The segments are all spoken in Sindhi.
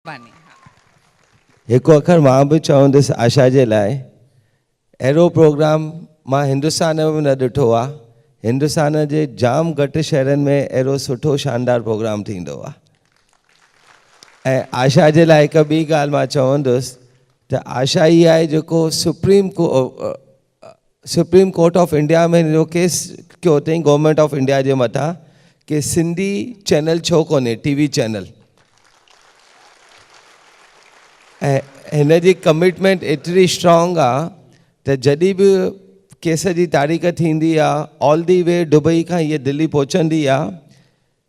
مھرباني ھا. ھڪ اکر مان به چوندس آشا جي لاء اھڙو پروگرام مان ھندستان ۾ به نه ڏٺو آ ھندستان جي جام گھٽ شھرن ۾ اھڙو سٺو شاندار پروگرام ٿيندو آ ۽ آشا جي لاء ھڪ ٻي ڳالھ مان چوندس ته آشا ئي آھي جيڪو سپريم ڪو سپريم ڪورٽ آف انڊيا ۾ هن جو ڪيس ڪيو اٿئين گورنمينٽ آف انڊيا جي مٿان ڪي سنڌي چينل ڇو ڪونهي ٽي وي چينل ۽ هن جي ڪمٽمينٽ ايتري اسٽرانگ آ ته جڏي به ڪيس جي تاريخ ٿيندي آ آل دي وي ڊبئي کان هي دلي پهچندي آ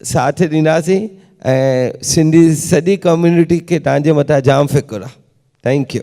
ساٿ ڏينداسين ۽ سنڌي سڄي ڪميونٽي کي تان جي مٿان جام فڪر آ ٿينڪ يو.